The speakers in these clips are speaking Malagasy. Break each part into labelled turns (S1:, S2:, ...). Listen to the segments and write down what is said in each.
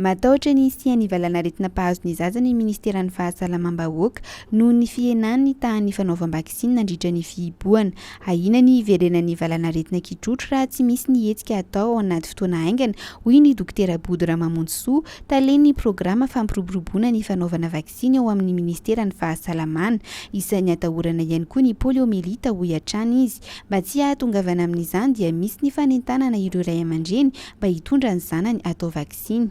S1: Matahotra ny hisian'ny valanaretina mpahazo ny zaza ny Ministeran'ny Fahasalamam-bahoaka noho ny fihenan'ny tahan'ny fanaovam-baksiny nandritra ny fihibohana. Ahiana ny hiverenan'ny valanaretina kitrotro raha tsy misy ny hetsika atao ao anaty fotoana haingana, hoy ny Dokotera Bodo Ramamonjisoa, talen'ny programa fampiroboroboana ny fanaovana vaksiny. sy ny ao amin'ny ministeran'ny fahasalamana, isan'ny atahorana ihany koa ny poliomelita hoy hatrany izy. Mba tsy hahatongavana amin'izany dia misy ny fanentanana ireo ray aman-dreny mba hitondra ny zanany hatao vaksiny.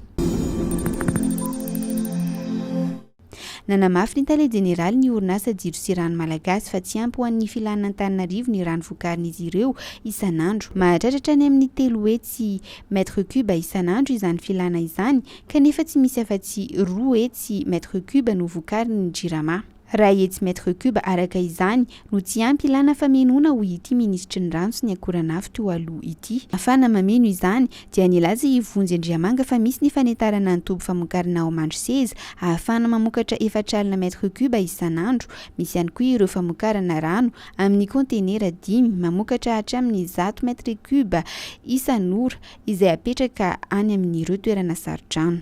S1: Nanamafy ny tale jeneralin'ny orinasa Jiro sy Rano Malagasy fa tsy ampy ho an'ny filan'Antananarivo ny rano vokarin'izy ireo isan'andro. Mahatratra hatrany amin'ny telo hetsy, mètre cube, isan'andro izany filana izany, Kanefa tsy misy afa-tsy roa hetsy mètre cube no vokarin' ny Jirama. Iray hetsy mètre cube araka izany no tsy ampy ilàna famenoana hoy ity minisitry ny Rano sy ny Akoranafo teo aloha ity. Afahana mameno izany dia nilaza i Vonjy Andriamanga fa misy ny fanentarana ny toby famokarana ao Mandroseza ahafahana mamokatra efatra alina mètre cube isan'andro. Misy ihany koa ireo famokarana rano amin'ny kaontenera dimy mamokatra hatramin'ny zato mètre cube isan'ora. izay apetraka any amin'ireo toerana saro-drano.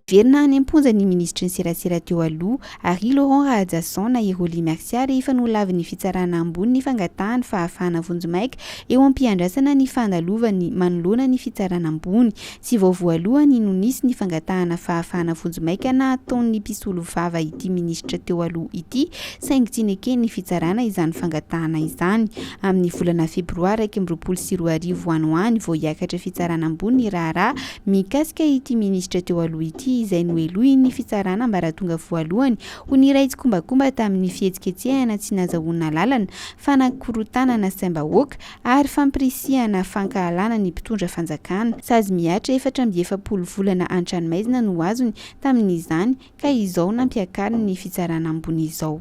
S1: Niverina any am-ponja ny minisitry ny serasera teo aloha, Harry Laurent Rahajason na i Rolly Mercia rehefa nolavin'ny fitsarana ambony ny fangatahany fahafahana vonjimaika eo am-piandrasana ny fandalovan'ny manoloana ny fitsarana ambony Tsy vao voalohany no nisy ny fangatahana fahafahana vonjimaika nataon'ny mpisolovava ity minisitra teo aloha ity saingy tsy neken'ny fitsarana izany fangatahana izany. Amin'ny volana febroary iraika amby roapolo sy roa arivo any ho any vao hiakatra fitsarana ambony ny raharaha mikasika ity minisitra teo aloha ity izay nohelohin'ny fitsarana ambaratonga voalohany ho niray tsikombakomba tamin'ny fihetsiketsehana tsy nazahoana alalana fanakorontanana saim-bahoaka ary fampirisihana fankahalana ny mpitondra fanjakana. Sazy mihatra efatra amby efapolo volana an-tranomaizina no azony tamin'izany ka izao nampiakariny ny fitsarana ambony izao.